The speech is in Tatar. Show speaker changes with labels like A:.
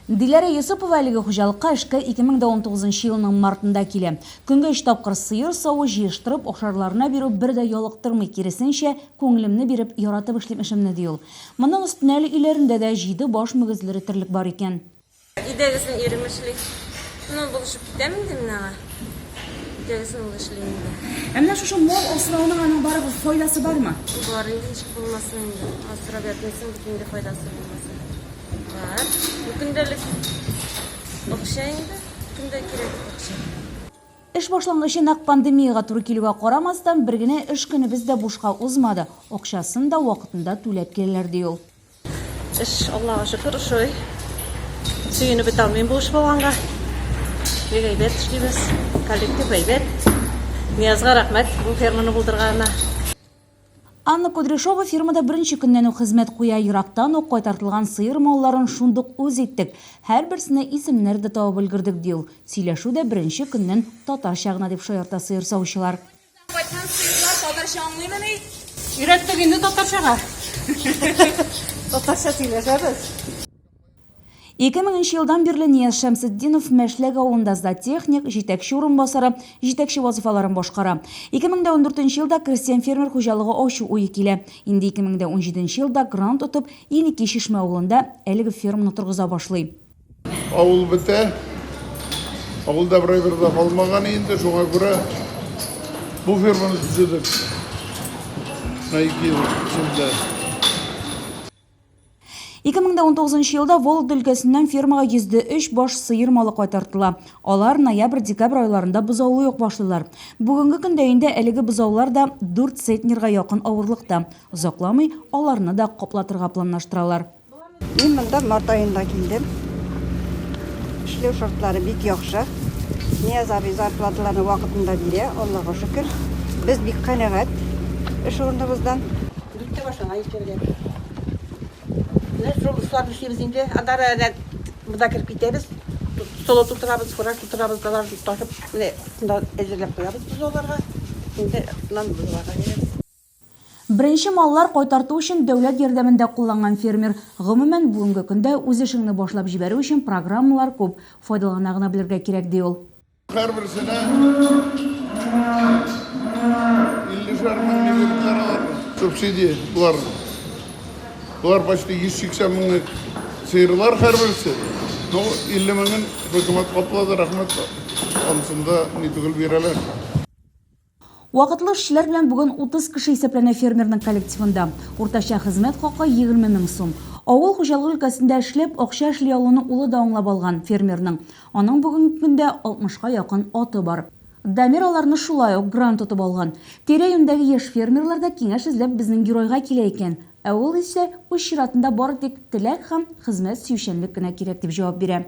A: Диләрә Йосыпова әлеге хуҗалыкка эшкә 2019 нчы елның мартында килә. Көнгә өч тапкыр сыер саву, җыештырып, ашарларына бирү бер дә ялыктырмый, киресенчә, күңелемне биреп, яратып эшлим эшемне, ди ул. Моның өстенә әле өйләрендә дә җиде баш мөгезле ретерлек бар икән. Идегезме,
B: ирем эшли. Ну, булышып. Итәм инде мин аңа. Җәзасын ул эшли инде. Ә менә шушы
A: мал асрауның аның барыбер файдасы бармы? Бар инде, ничек
B: булмасын инде. Асрап ятмыйсың бит инде файдасы булмаса. Бар. Бу көндәлек акча инде. Көндә кирәк акча. Эш
A: башлангычы нәкъ пандемиягә туры килүгә карамастан, бер генә эш көнебез дә бушка узмады, акчасын да вакытында түләп киләләр, ди ул. Эш,
C: Аллага шөкер, ошый. Сөенеп бетә алмыйм бу эш булганга. Бик әйбәт эшлибез. Коллектив әйбәт. Ниязга рәхмәт бу ферманы булдырганына.
A: Анна Кудряшова фермада беренче көннән үк хезмәт куя. Ерактан ук кайтартылган сыер малларын шундук үз иттек. Һәрберсенә исемнәр дә табып өлгердек, ди ул. Сөйләшү дә беренче көннән татарча гына, дип шаярта сыер савучылар. Кайткан сыерлар
B: татарча аңлыймыни? Өйрәттек инде
C: татарчага. Татарча сөйләшәбез.
A: Ике меңенче елдан бирле Нияз Шәмсетдинов Мәшләк авылында зоотехник, җитәкче урынбасары, җитәкче вазыйфаларын башкара. Ике мең дә ундүртенче елда крестьян-фермер хуҗалыгы ачу уе килә. Инде ике мең дә унҗиденче елда грант отып, Еники Чишмә авылында әлеге ферманы торгыза башлый. Авыл
D: бетә. Авылда берәй бер дә калмаган инде, шуңа күрә бу ферманы төзедек. Менә ике ел эчендә.
A: 2019 елда Вологда өлкәсеннән фермага йөзде өч баш сыер малы кайтартыла. Алар ноябрь-декабрь айларында бозаулый ук башлыйлар. Бүгенге көндә инде әлеге бозаулар да дүрт центнерга якын авырлыкта. Озакламый аларны да каплатырга планлаштыралар. Мин монда
E: март аенда килдем. Эшләү шартлары бик яхшы. Нияз абый зарплаталарны вакытында бирә, Аллага шөкер. Без бик канәгать эш урыныбыздан. Дүрткә башына
C: икергә. Менә шул эшләрне эшлибез инде. Адара әле монда кереп китәбез. Соло тутырабыз, фураж тутырабыз, далар ташып, менә шунда әзерләп куябыз без аларга. Инде нан буларга бирәбез. Беренче
A: маллар кайтарту өчен дәүләт ярдәмен дә кулланган фермер. Гомумән, бүгенге көндә үз эшеңне башлап җибәрү өчен программалар күп, файдалана гына белергә кирәк, ди ул.
D: Һәрберсенә иллешәр мең лирлык чаралар бар. Субсидия болар. Болар почти 180 меңлек сыерлар һәрберсе. Ну, 50 меңен хөкүмәт каплады, рәхмәт, анысында ни түгел бирәләр.
A: Вакытлы эшчеләр белән бүген 30 кеше исәпләнә фермерның коллективында. Уртача хезмәт хакы 20 мең сум. Авыл хуҗалыгы өлкәсендә эшләп, акча эшли алуны улы да аңлап алган фермерның. Аның бүгенге көндә 60 ка якын аты бар. Дамир аларны шулай ук грант тотып алган. Тирә-юньдәге яшь фермерлар да киңәш эзләп безнең геройга килә икән. Ә ул исә, үз чиратында, бары тик теләк һәм хезмәт сөючәнлек кенә кирәк, дип җавап бирә.